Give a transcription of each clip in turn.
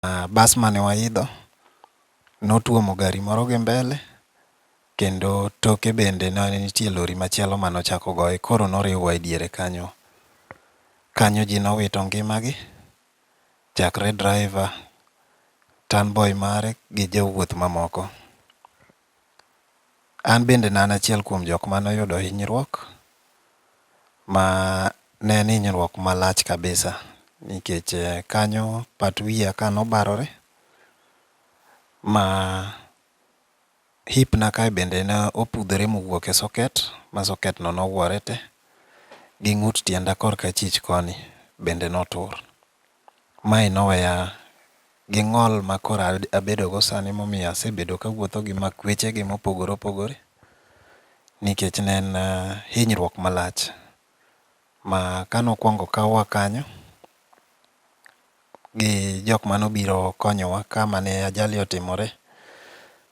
Uh, bas mane waidho notuomo gari moro gi mbele kendo toke bende ne nitie lori machielo mane ochako goye koro noriwwa e diere kanyo kanyo ji nowito ngimagi chakre driver tanboy mare gi jowuoth mamoko An bende ne an achiel kuom jok mane oyudo hinyruok ma ne en hinyruok malach kabisa nikech kanyo pat wiya ka ne obarore ma hip na kae bende ne opudhore ma owuok e socket ma socket no ne ogwore te gi ng'ut tienda kor ka achich koni bende ne otur. Mae noweya gi ng'ol ma koro abedogo sani momiyo asebedo kawuotho gi makwechegi mopogore opogore nikech ne en hinyruok malach ma kane okwongo okawa kanyo gi jok mane obiro konyowa kama ne ajali otimore,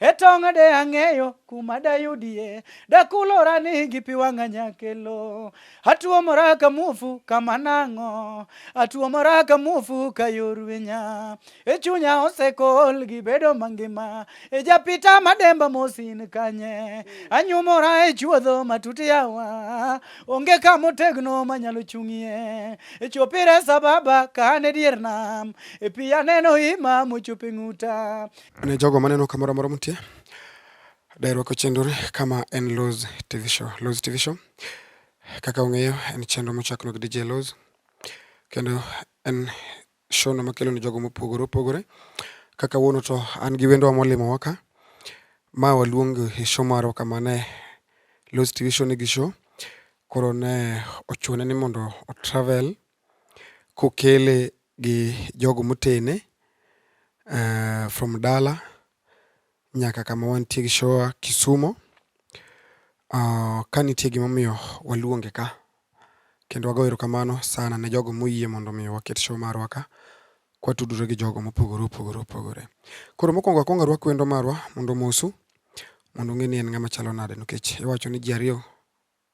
e tong' de ang'eyo kuma dayudie dakulora ni gi pi wang'a nyakelo atuomora ka muofu kama nang'o atuomora ka muofu ka yor winya e chunya osekol gi bedo mangima e japita mademba mosin kanye anyumora e chuodho matut yawa onge kama otegno manyalo chung'ie e chopire sababa ka an e dier nam e pi aneno ima mochope ng'uta Ne jogo maneno kamoro amora mutie, dairuako chenroni kama en Loz TV Show. Loz TV Show kaka ung'eyo en chenro mochakno gi DJ Loz kendo en show no makelo ni jogo mopogore opogore. Kaka wuono to an gi wendowa molimo waka ma waluongo e show marwa kama ne Loz TV Show nigi show koro ne ochune ni mondo o travel kokele gi jogo motene from dala nyaka kama wantie gi shoa Kisumo. Ka nitie gimomiyo waluonge ka, kendo wago erokamano sana ne jogo moyie mondo mi waket show marwa ka kwatudore gi jogo mopogore opogore opogore. Koro mokwongo akwongo arwak wendo marwa mondo omosu mondo ung'e ni en ng'ama chalo nade nikech iwacho ni ji ariyo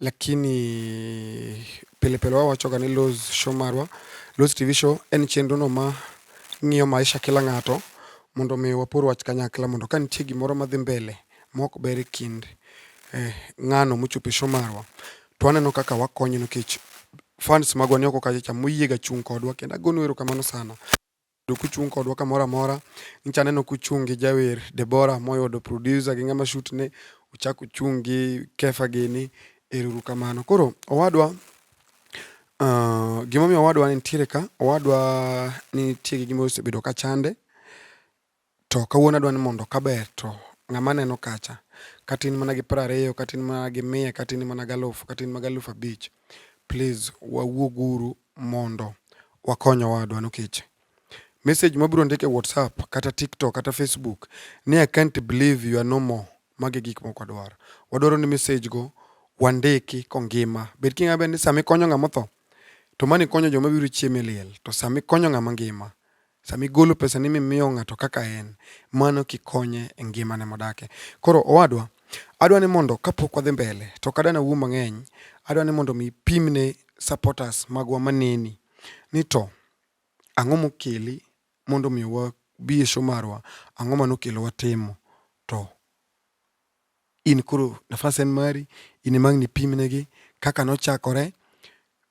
Lakini pile pile wao wachoga ni Loz Show marwa. Loz TV Show en chenro no ma ng'iyo maisha kila ng'ato mondo mi wapor wach kanyakla mondo ka nitie gimoro madhi mbele mok ber e kind eh, ng'ano mochopo e show marwa to aneno kaka wakonyo nikech fans magwa ni oko kacha cha moyiega chung' kodwa kendo agonu erokamano sana. Bedo kuchung' kodwa kamoro amora. Nyicha aneno kuchung' gi jawer Deborah moyudo producer gi ng'ama shoot ne, uchak uchung' gi Kefa gini. Eruru kamano. Koro owadwa Uh, gimomiyo owadwa nitiere ka owadwa nitie gi gima osebedo ka chande To kawuono adwa ni mondo kaber to ng'ama aneno kacha, katin mana gi piero ariyo, katin mana gi mia, katin mana gi alufu, katin mana gi alufu abich, please wawuog uru mondo wakony owadwa nikech message mabiro ndiko e WhatsApp kata TikTok kata Facebook ni I can't believe you are no more. Magi gik moko adwaro. Wadwaro ni message go wandiki kongima. Bed king'ama ber ni sama ikonyo ng'ama otho to mani konyo joma biro chiemo e liel to sama ikonyo ng'ama ngima Sama igolo pesani mimiyo ng'ato kaka en, mano kikonye e ngimane modake. Koro owadwa, adwa ni mondo kapok wadhi mbele, to ok adwa ni awuo mang'eny, adwa ni mondo mi ipim ne supporters magwa maneni ni to ang'o mokeli mondo mi wabi e show marwa, ang'o ma nokelo watimo. To in koro nafas en mari, in ema ang' nipimnegi kaka nochakore.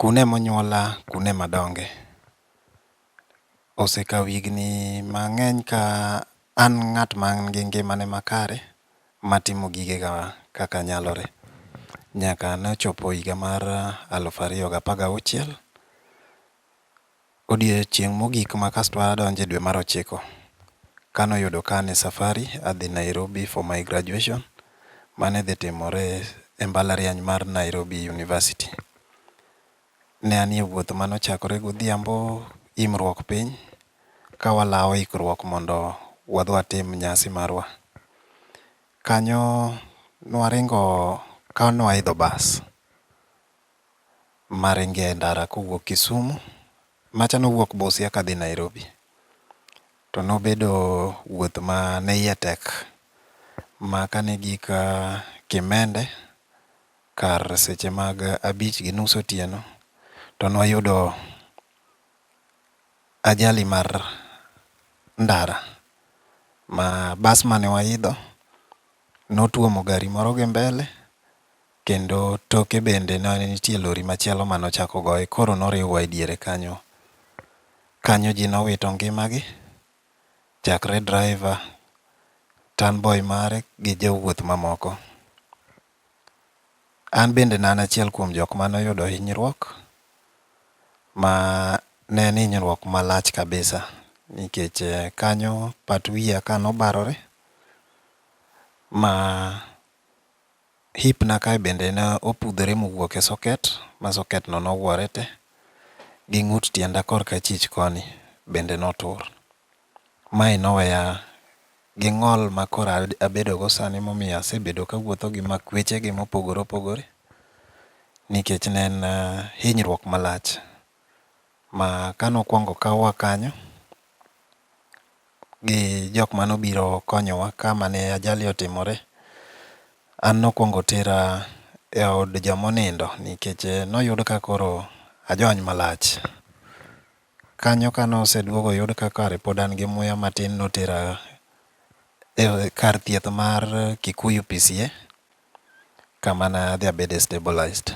Kune monyuola, kune madonge. Osekawo higni mang'eny ka an ng'at man gi ngimane makare matimo gigega kaka nyalore nyaka nochopo higa mar aluf ariyo gapar gauchiel. Odiechieng' mogik ma kasto adonje dwe mar ochiko, kane oyudo ka an e safari adhi Nairobi for my graduation mane dhi timore e mbalariany mar Nairobi University. Ne anie wuoth mane ochakore godhiambo imruok piny ka walawo ikruok mondo wadhi watim nyasi marwa. Kanyo nwaringo ka nwaidho bas, maringo e ndara kowuok Kisumu. Macha nowuok Busia kadhi Nairobi. To nobedo wuoth ma ne iye tek ma kane gik Kimende kar seche mag abich gi nus otieno to ne wayudo ajali mar ndara ma bas mane waidho notuomo gari moro gi mbele Kendo toke bende ne nitie lori machielo mane ochak ogoye koro noriwwa e diere kanyo. Kanyo ji nowito ngimagi chakre driver, turn boy mare gi jowuoth mamoko. An bende ne an achiel kuom jok mane oyudo hinyruok ma ne en hinyruok malach kabisa nikech kanyo pat wiya ka nobarore ma Hip na kae bende ne opudhore mowuok e socket ma socket no nogwore te gi ng'ut tienda kor ka chich koni bende notur. Mae noweya gi ng'ol ma koro abedo go sani momiyo asebedo ka awuotho gi makweche gi mopogore opogore nikech ne en hinyruok malach. Ma kane okuongo okawwa kanyo gi jok mane obiro konyowa kamane ajali otimore, an ne okuongo otera eod joma onindo nikech ne oyud ka koro ajony malach. Kanyo kane oseduogo oyud ka kare pod an gi muya matin ne otera e kar thieth mar Kikuyu PCA. kama ne adhi abede stabilized.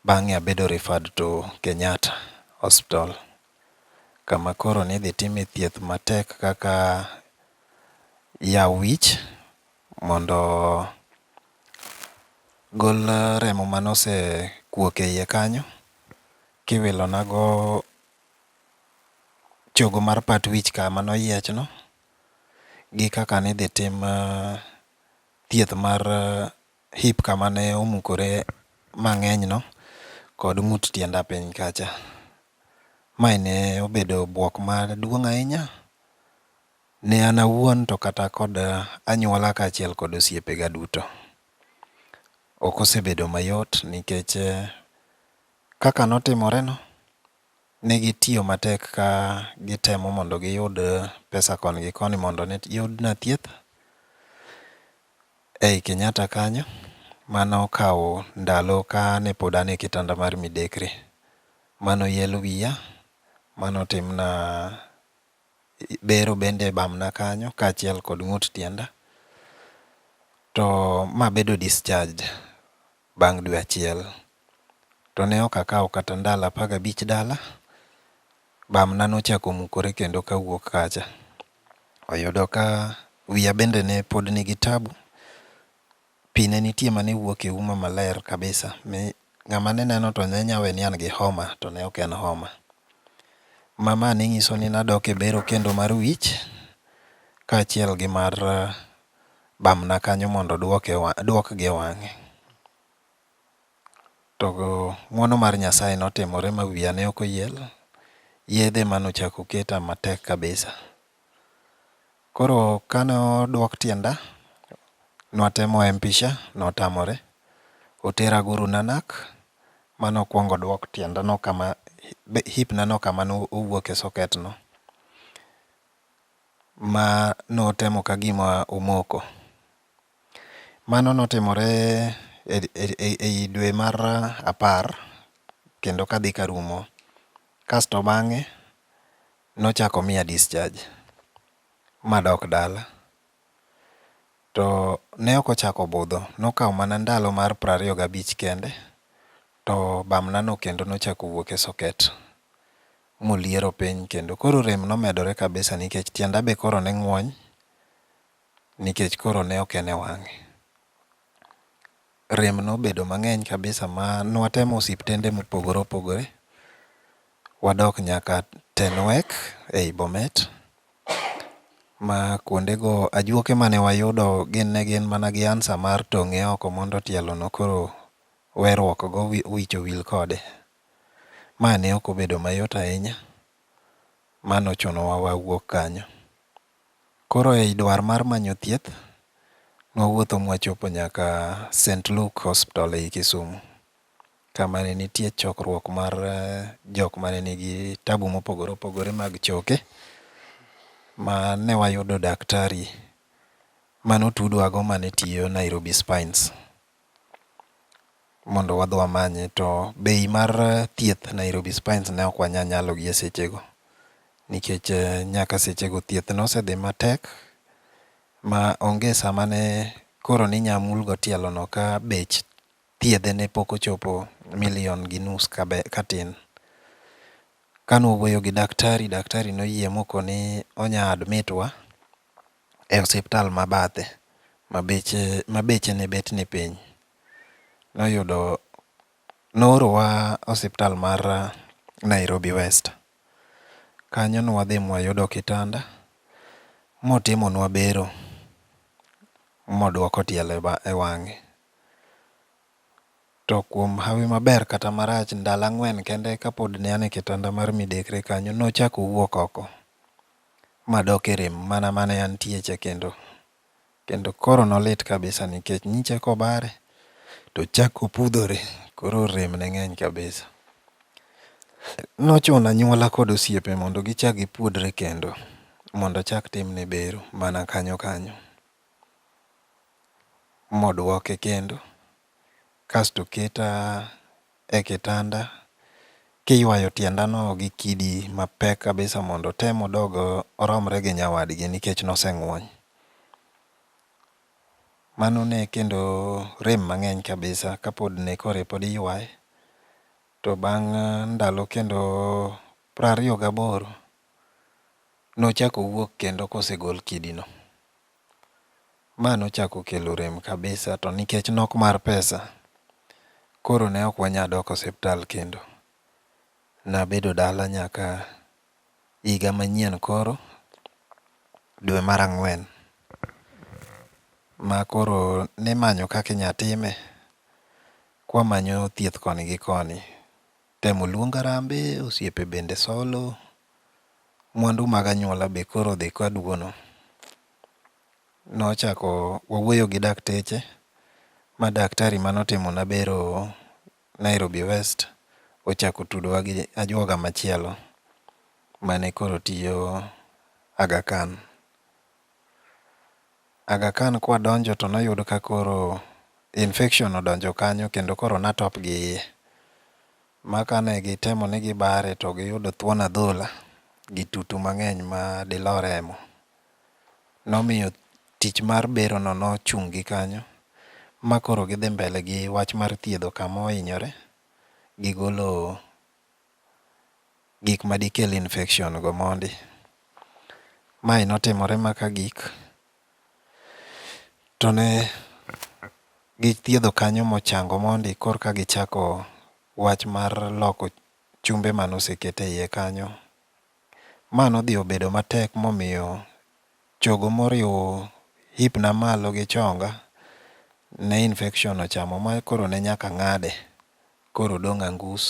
Bang'e abedo referred to Kenyatta Hospital kama koro nidhi time thieth matek kaka yaw wich mondo gol remo mane osekuok e iye kanyo kiwilonago chogo mar pat wich kama noyiechno gi kaka nidhi tim thieth mar hip kama ne omukore mang'enyno kod ng'ut tienda piny kacha. Mae ne obedo bwok maduong' ahinya ne an awuon to kata kod anyuola kaachiel kod osiepega duto. Ok osebedo mayot nikech kaka notimoreno Ne gitiyo matek ka gitemo mondo giyud pesa koni gi koni mondo ne yudna thieth ei Kenyatta kanyo. Mane okawo ndalo kane pod an e kitanda mar midekre. Mane oel wiya, mane otimna bero bende e bamna kanyo kaachiel kod ng'ut tienda. To ma bedo discharged Bang' dwe achiel, to ne ok akawo kata ndalo apar gabich dala, bamna nochako mukore kendo kawuok kacha. Oyudo ka wiya bende ne pod nigi tabu, pi ne nitie mane wuok e uma maler kabisa mi ng'ama ne neno to ne nya we ni an gi homa to ne ok en homa. Ma ma ne nyiso ni nadok e bero kendo mar wich kaachiel gi mar bamna kanyo mondo duoke duokgi e wang'e. To ng'uono mar Nyasaye notimore ma wiya ne ok oyiel, yedhe ema nochako oketa matek kabisa. Koro kane oduok tienda, nwatemo empisha notamore. Otera Guru Nanak, mane okwongo oduok tienda no kama hip na no kama nowuoke socket no. ma notemo ka gima omoko. Mano notimore ei dwe mar apar kendo ka dhi ka rumo. Kasto bang'e nochako omiya discharge ma adok dala. To ne ok ochako obudho, nokawo mana ndalo mar piero ariyo gi abich kende to bamna no kendo ne ochako owuok e socket. moliero piny kendo koro rem nomedore kabisa nikech tienda be koro ne ng'wony nikech koro ne ok en e wang'e. Rem nobedo mang'eny kabisa ma nwatemo osiptende mopogore opogore, wadok nyaka Tenwek ei Bomet ma kuondego ajuoke mane wayudo gin ne gin mana gi ansa mar tong'e oko mondo tielono koro werruokgo wicho wil kode. Ma ne ok obedo mayot ahinya ma nochunowa wawuog kanyo. Koro ei dwar mar manyo thieth, nwawuotho mwachopo nyaka Saint Luke Hospital ei Kisumu kama ne nitie chokruok mar jok mane nigi tabu mopogore opogore mag choke ma ne wayudo daktari mane otudwago mane tiyo Nairobi Spines. mondo wadhi wamanye to bei mar thieth Nairobi Spines ne ok wanyal nyalo gi esechego nikech nyaka sechego thieth ne osedhi matek ma onge sama ne koro ne inyalo mul go tielono ka bech thiedhe ne pok ochopo milion gi nus katin. Kane wawuoyo gi daktari, daktari ne oyie mokoni onyalo admit wa. e osiptal ma bathe ma beche ma beche ne bet ni piny. Noyudo noorowa osiptal mar Nairobi west. Kanyo nwadhi mwayudo kitanda motimonwa bero modwoko tielo e wang'e. To kuom hawi maber kata marach ndalo ang'wen kende kapod ne an e kitanda mar midekre kanyo nochak owuok oko. madok e rem mana mane antie cha kendo. Kendo koro nolit kabisa nikech nyicha kobare to ochako opudhore koro rem ne ng'eny kabisa. Nochuno anyuola kod osiepe mondo gichak gipuodre kendo mondo ochak timne bero mana kanyo kanyo modwoke kendo kasto oketa e kitanda kiywayo tiendano gi kidi mapek kabisa mondo otem odog oromre gi nyawadgi nikech noseng'wony. Mano ne kendo rem mang'eny kabisa kapod ne koro pod iywaye to bang' ndalo kendo prariyo gaboro nochako owuok kendo kosegol kidino. Ma nochako kelo rem kabisa to nikech nok mar pesa, koro ne ok wanyal dok osiptal kendo. Nabedo dala nyaka higa manyien koro, dwe mar ang'wen. Ma koro nimanyo kaka inyalo time, kwamanyo thieth koni gi koni. Tem oluong arambe, osiepe bende solo, mwandu mag anyuola be koro dhi ka duono. Nochako wawuoyo gi dakteche, ma daktari mane otimona bero Nairobi West ochako otudowa gi ajuoga machielo mane koro tiyo Aga Khan. Aga Khan kwadonjo to noyud ka koro infection odonjo kanyo kendo koro natop gi iye. Ma kane gitemo ni gibare to giyudo thuon adhola gi tutu mang'eny ma dilo remo. Nomiyo tich mar bero no nochung' gi kanyo ma koro gidhi mbele gi wach mar thiedho kama ohinyore gi golo gik ma dikel infection go mondi. Mae notimore ma ka gik to ne githiedho kanyo mochango mondi korka gichako wach mar loko chumbe mane oseket e iye kanyo Ma nodhi obedo matek momiyo chogo moriwo hipna malo gi chonga ne infection ochamo ma koro ne nyaka ng'ade koro odong' angus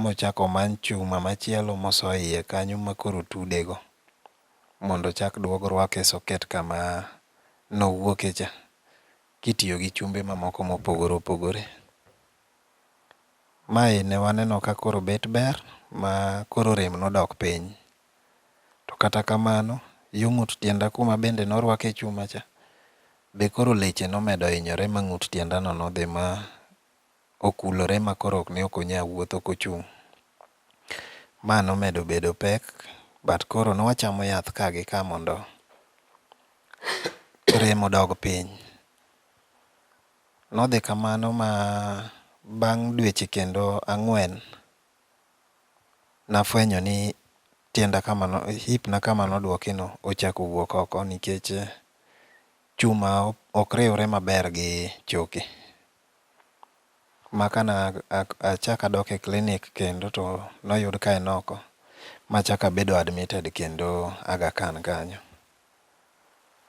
mochak omany chuma machielo moso e iye kanyo ma koro otudego mondo ochak duog rwake e socket kama nowuoke cha kitiyo gi chumbe mamoko mopogore opogore. Mae ne waneno ka koro bet ber ma koro rem nodok piny. To kata kamano, yo ng'ut tienda kuma bende norwake chuma cha, be koro leche nomedo hinyore ma ng'ut tienda no nodhi ma okulore ma koro ne ok onya wuotho kochung'. Ma nomedo bedo pek, but koro nwachamo yath ka gi ka mondo rem odog piny. Nodhi kamano ma bang' dweche kendo ang'wen nafwenyo ni tienda kama no, hip na kama nodwoki no ochako wuok oko nikech chuma ok riwre maber gi choke. Ma ka na achak adok e klinik kendo to noyud ka en oko machak abedo admitted kendo Aga Khan kanyo.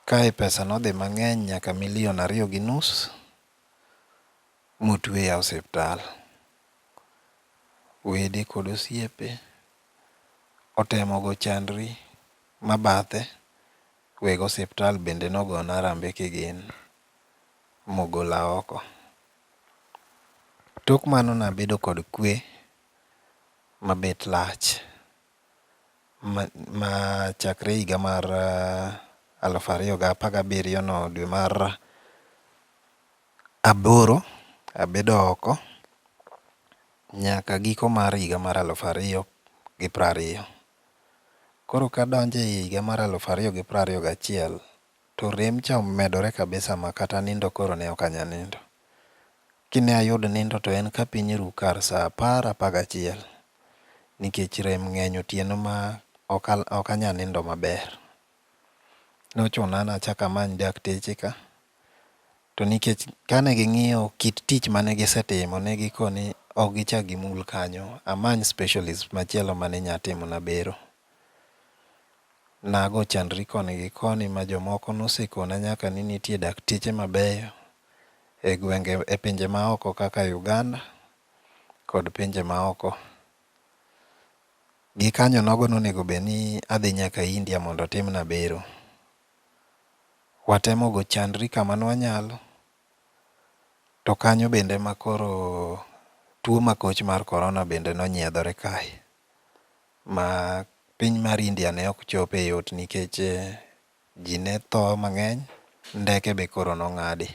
Kae pesa nodhi mang'eny nyaka milion ariyo gi nus motueya e osiptal. Wede kod osiepe otemo go chandri ma bathe, weg osiptal bende nogona arambe kigin mogola oko. Tok mano nabedo kod kwe mabet lach. ma chakre higa mar aluf ariyo gi apar gabiriyo no dwe mar aboro abedo oko nyaka giko mar higa mar aluf ariyo gi piero ariyo. Koro kadonjo e higa mar aluf ariyo gi piero ariyo gachiel to rem cha omedore kabisa makata nindo koro ne ok anyal nindo. Kine ayud nindo to en ka piny ru kar saa apar apar gachiel nikech rem ng'eny otieno ma ok anya nindo maber. Nochuna nachako amany dakteche ka to nikech kane ging'iyo kit tich mane gisetimo ne giko ni ok gichak gimul kanyo amany specialist machielo mane nya timona bero. Nago chandri koni gi koni ma jomoko nosekona nyaka ni nitie dakteche mabeyo e gwenge e pinje maoko kaka Uganda kod pinje maoko. Gikanyo nogo nonego bed ni adhi nyaka India mondo otimna bero. Watemo go chandri kama nwanyalo, to kanyo bende ma koro tuo makoch mar korona bende nonyiedhore kae. Ma piny mar India ne ok chope yot nikech Ji ne tho mang'eny, ndeke be koro nong'adi.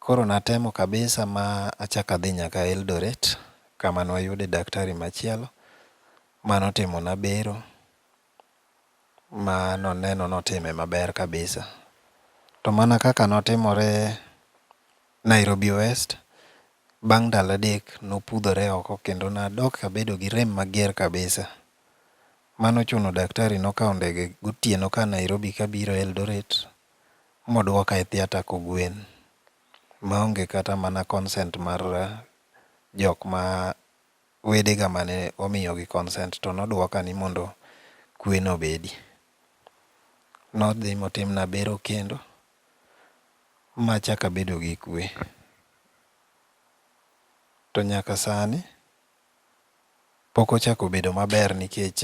Koro natemo kabisa ma achak adhi nyaka Eldoret kama ne wayude daktari machielo mane otimona bero ma noneno ni otime maber kabisa. To mana kaka ne otimore Nairobi West, bang' ndalo adek ne opudhore oko kendo nadok abedo gi rem mager kabisa. Mano ochuno daktari nokawo ndege gotieno ka a Nairobi kabiro Eldoret moduoka e theater kogwen maonge kata mana consent mar jok ma wedega mane omiyogi consent to noduoka ni mondo kweno obedi. Nodhi motimna bero kendo machako abedo gi kwe to nyaka sani. Pok ochako bedo maber nikech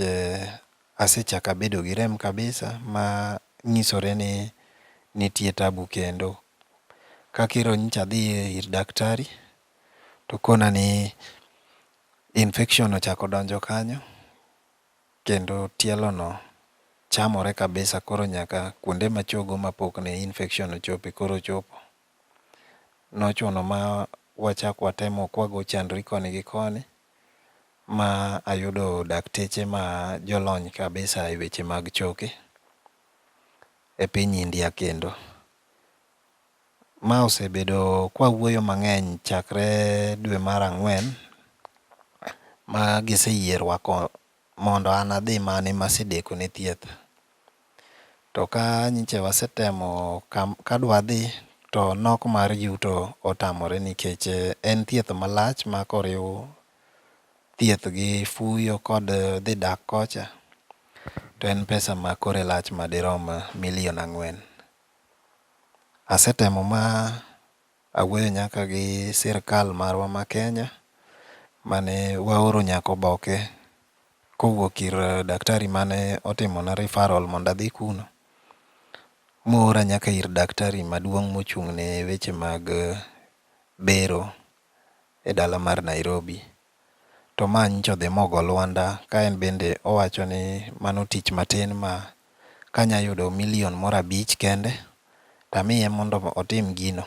asechako abedo gi rem kabisa ma nyisore ni nitie tabu kendo. Kaka ero nyocha adhi ir daktari to okona ni infection ochako donjo kanyo kendo tielo no chamore kabisa koro nyaka kuonde ma achogo mapok ne infection ochope koro ochopo. nochuno ma wachak watemo kwago chandri koni gi koni ma ayudo dakteche ma jolony kabisa e weche mag choke e piny India kendo. Ma osebedo kwawuoyo mang'eny chakre dwe mar ang'wen ma giseyierwa mondo an adhi mane ma asedeko ne thieth. To ka nyicha wasetemo ka dwa dhi to nok mar yuto otamore nikech en thieth ma lach ma ka oriw thieth gi fuyo kod dhi dak kocha to en pesa ma kore lach ma di rom milion ang'wen. Asetemo ma Awuoyo nyaka gi sirkal marwa ma Kenya mane waoro nyaka oboke kowuok ir daktari mane otimona referral mondo adhi kuno moora nyaka ir daktari maduong' mochung' ne weche mag bero e dala mar Nairobi to ma nyicha odhi ma ogo lwanda ka en bende owacho ni mano tich matin ma ka anya yudo milion moro abich kende to amiye mondo otim gino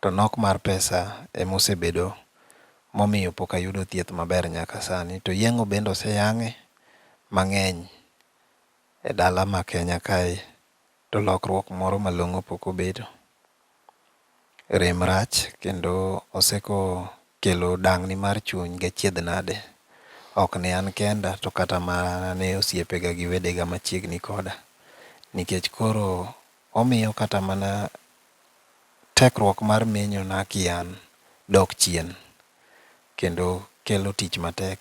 to nok mar pesa ema osebedo ma omiyo pok ayudo thieth maber nyaka sani. To yeng'o bende oseyang'e mang'eny e dala ma Kenya kae To lokruok moro malong'o pok obedo. Rem rach kendo oseko kelo dang'ni mar chuny gachiedh nade, ok ne an kenda to kata mana ne osiepega gi wedega machiegni koda, nikech koro omiyo kata mana tekruok mar menyona kian dok chien, kendo kelo tich matek.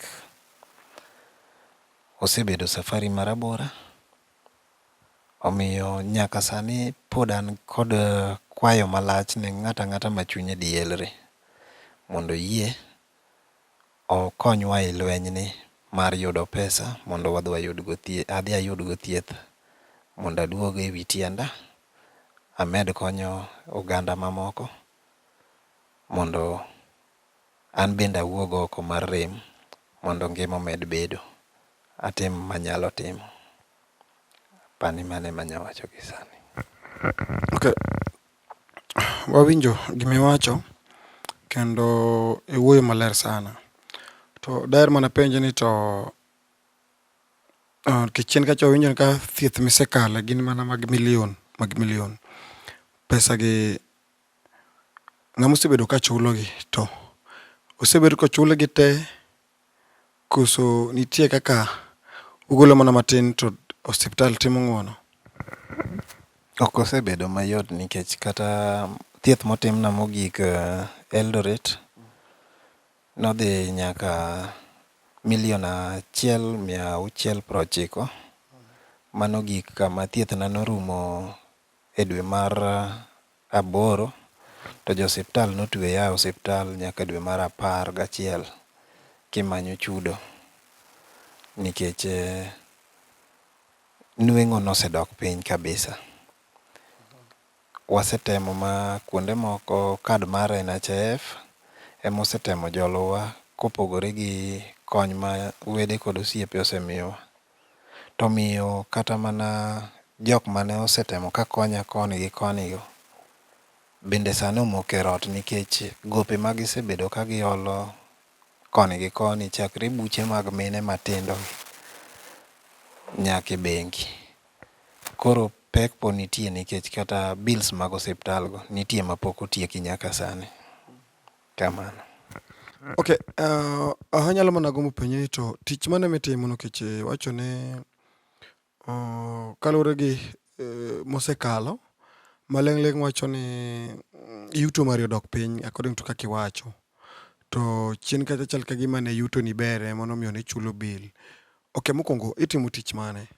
Osebedo safari marabora. Omiyo nyaka sani pod an kod kwayo malach ne ng'ato ang'ata ma chunye dielre mondo oyie okonywa e lwenyni mar yudo pesa mondo wadhi wayud go thieth, adhi ayud go thieth mondo aduog ewi tienda amed konyo oganda mamoko mondo An bende awuog oko mar rem mondo ngima omed bedo. Atim manyalo timo. Apani mano ema anyalo wacho gi sani. Ok. Wawinjo gima iwacho kendo iwuoyo maler sana. To daher mana penjo ni to nikech chien kacha wawinjo ka thieth ma isekale gin mana mag milion mag milion. Pesa gi ng'ama osebedo ka chulogi to osebed kochulgi te koso nitie kaka ugolo mana matin to osiptal timo ng'uono? Ok osebedo mayot nikech kata thieth motimna mogik Eldoret nodhi nyaka milion achiel mia auchiel prochiko. Mano ogik kama thiethna norumo e dwe mar aboro, to jo osiptal notweya e osiptal nyaka dwe mar apar gachiel kimanyo chudo nikech nweng'o nosedok piny kabisa. Wasetemo ma kuonde moko kad mar NHIF ema osetemo jolowa kopogore gi kony ma wede kod osiepe osemiyowa. To omiyo kata mana jok mane osetemo ka konya koni gi koni go bende sani omoko e rot nikech gope ma gisebedo ka giolo koni gi koni chakre buche mag mine matindo gi nyaka e bengi. Koro pek pod nitie nikech kata bills mag osiptal go nitie mapok otieki nyaka sani. Kamano. Okay, uh, anyalo mana gombo penjo ni to tich mane mitimo nikech eh, wacho ni uh, kaluwore gi uh, mosekalo maling'ling' wacho ni mm, yuto mari odok piny according to kaka iwacho to chien kacha chal ka gima ne yuto ni bere mano miyo ne chulo bill ok mokwongo itimo tich mane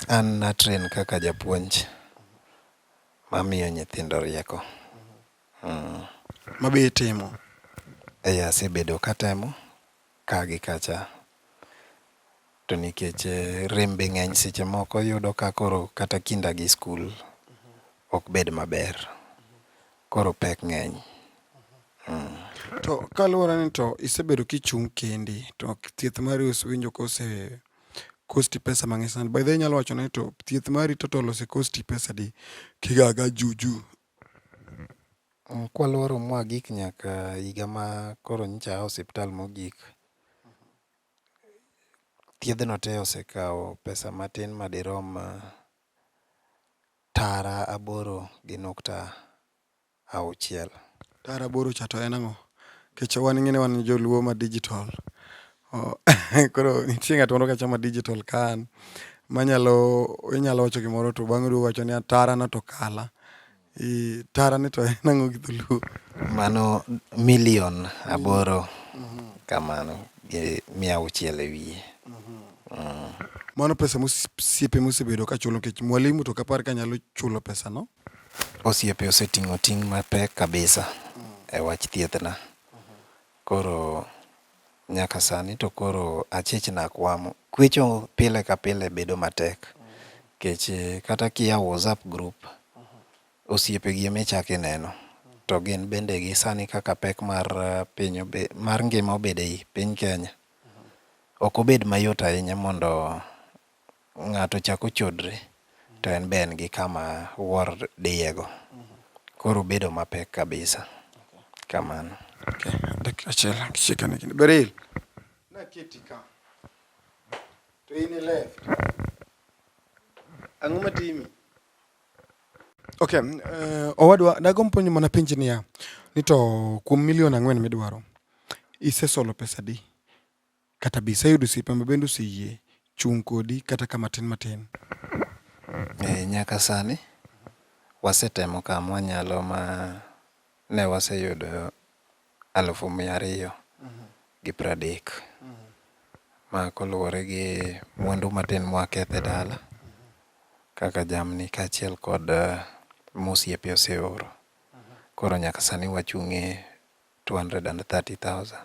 an natren kaka japuonj mamiyo nyithindo rieko Ma be itimo? Eeh, asebedo katemo ka gi kacha to nikech rem be ng'eny seche moko iyudo ka koro kata kinda gi skul ok bed maber. Koro pek ng'eny. To kaluwore ni to isebedo kichung' kendi to thieth mari iwinjo ka ose cost i pesa mang'eny sana. By the way inyalo wacho ni to thieth mari total ose cost i pesa adi kigaga juju Kwalworo mwagik nyaka higa ma koro nyocha aa e osiptal mogik, thiedhno te osekawo pesa matin madirom tara aboro gi nukta auchiel. Tara aboro cha to en ang'o? Nikech wan ing'e ni wan joluo ma dijitol, Oh, koro nitie ng'at moro kachama digital kan manyalo inyalo wacho gimoro to bang'e duogo wacho ni atara no to kala. I tara ni to en ang'o gi dholuo? Mano milion aboro kamano gi mia auchiel e wiye. Mano pesa mosiepe mosebedo ka chulo nikech mwalimu to kapar ka nyalo chulo pesa no. Osiepe oseting'o ting' mapek kabisa e wach thiethna. Koro nyaka sani to koro achich nak wamo. Kwecho pile ka pile bedo matek. Kech kata kiyawo WhatsApp group, osiepe gi ema ichak ineno. To gin bende gi sani kaka pek mar piny obe, mar ngima obede ei piny Kenya, ok obed mayot ahinya mondo ng'ato chako chodre to en be en gi kama wuor diyego. Koro bedo mapek kabisa. Kamano. Dakika achiel kishika ni kini. Beril. Na kiti ka. To in e left. Ang'o matimi? Okay, uh, owadwa dago mponyo mana penji niya ni to kuom milion ang'wen midwaro isesolo pesa di? Kata be iseyudo osiepe ma bende oseyie chung' kodi kata ka matin matin? Ee, nyaka sani wasetemo ka mwanyalo ma ne waseyudo alufu mia ariyo gi pradek. Ma koluwore gi mwandu matin mwaketho e dala kaka jamni kaachiel kod mosiepe oseoro. Koro nyaka sani wachung' e 230,000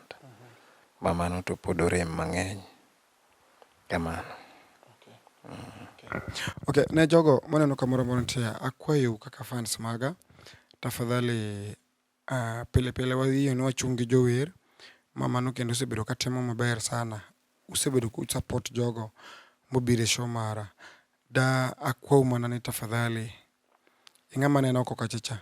ma mano to pod orem mang'eny. Kamano. Ok, ne jogo maneno kamoro amora nitie, akwayou kaka fans maga, tafadhali ah, pile pile wadhiyo ni wachung' gi jower ma mano kendo osebedo ka timo maber sana. Usebedo ku support jogo mobiro e show mara. Da akwau mana ni tafadhali Ing'ama aneno oko kacha cha.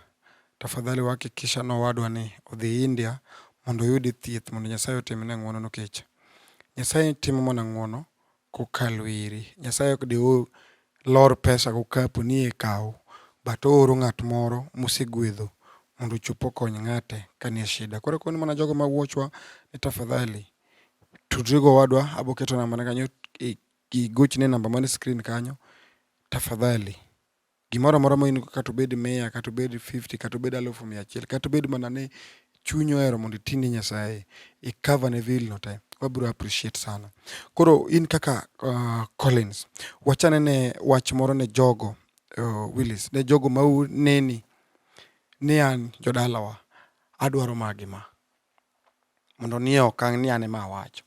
Tafadhali wahakikisha ni owadwa ni odhi India mondo oyudi thieth mondo Nyasaye otimne ng'wono nikech Nyasaye timo mana ng'wono kokalo iri. Nyasaye ok dew lor pesa go kapu ni e kaw. But ooro ng'at moro mosegwedho mondo ochop okony ng'ate ka nie shida. Koro akoni mana jogo ma watch wa ni tafadhali tudri gowadwa aboketo namba ne kanyo igochne namba mane screen kanyo tafadhali. Gimoro amora ma in go kata obed mia kata obed fifty kata obed alufu mia achiel kata obed mana ni chunyi ohero mondo iti ne Nyasaye, i cover ne bill no te, wabiro appreciate sana. Koro in kaka uh, Collins, wachane ne wach moro ne jogo uh, Willis, ne jogo ma neni ni an jodalawa adwaro magi ma. mondo nie okang' ni an ema awacho.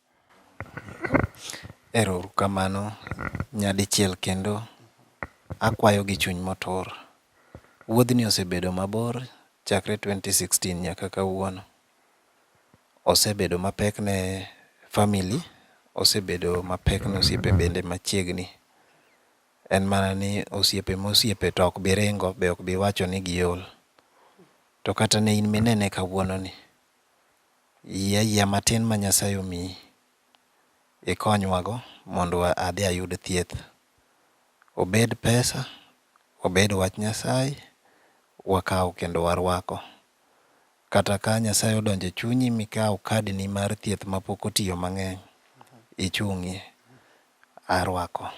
Ero uru kamano nyadichiel kendo. Akwayo gi chuny motur. Wuodhni osebedo mabor chakre 2016 nyaka kawuono. Osebedo mapek ne family, osebedo mapek ne osiepe bende machiegni. En mana ni osiepe mosiepe to ok bi ringo be ok bi wacho ni giol. To kata ne in minene kawuononi, yie ayiea matin ma Nyasaye omiyi ikonywago mondo adhi ayud thieth. Obed pesa, obed wach Nyasaye, wakawo kendo warwako. Kata ka Nyasaye odonjo e chunyi mikawo kadni mar thieth mapok otiyo mang'eny, ichung'ie. Arwako.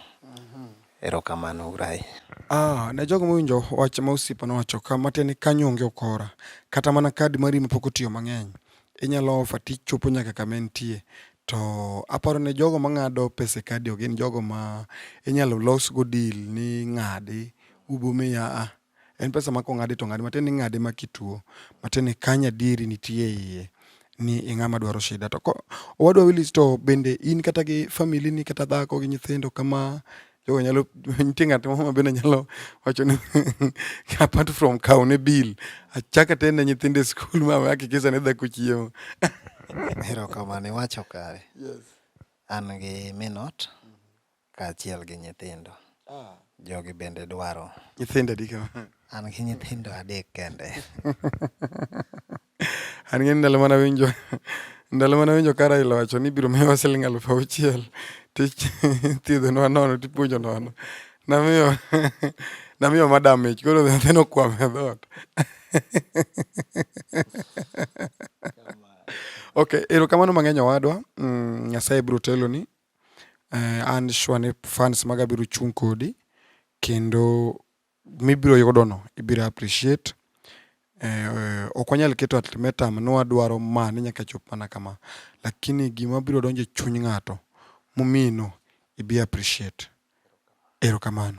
Erokamano uru ahinya. Aa, ne jogo mowinjo wach ma osiepa nowacho ka, matiende ni kanyo onge ukora, kata mana kad mari ma pok otiyo mang'eny, inyalo offer to ichopo nyaka kama entie. To aparo ni jogo mang'ado pesa e kadi ok gin jogo ma inyalo losgo deal ni ng'adi, ubo miya a. En pesa ma kong'adi to ng'adi matin ing'ade ma kituo matin ikany adieri nitie iye ni ing'ama dwaro shida to ko owadwa Willis to bende in kata gi famili ni kata dhako gi nyithindo kama jogo nyalo nitie ng'at moro ma bende nyalo wacho ni apart from kawo ne bill achaka te ne nyithindo e skul ma hakikisha ne dhako chiemo erokamano iwacho kare yes. an gi minot Kaachiel gi nyithindo. Jogi bende dwaro. Nyithindo adi kama? An gi nyithindo adek kende. An ng'eni ndalo mana winjo ndalo mana winjo ka Raila owacho ni ibiro miyowa siling' aluf auchiel tithiedhonwa nono tipuonjo nono. Namiyo namiyo madam mich koro nyathi nokwam e dhoot. Okay, erokamano mang'eny owadwa, mm, Nyasaye biro teloni Eh, an sure ni fans maga biro chung' kodi kendo mibiro yudono ibiro appreciate. Eh, ok wanyal keto ultimatum ni wadwaro ma ni nyaka chop mana kama, lakini gima biro donjo e chuny ng'ato momino ibi appreciate. Erokamano.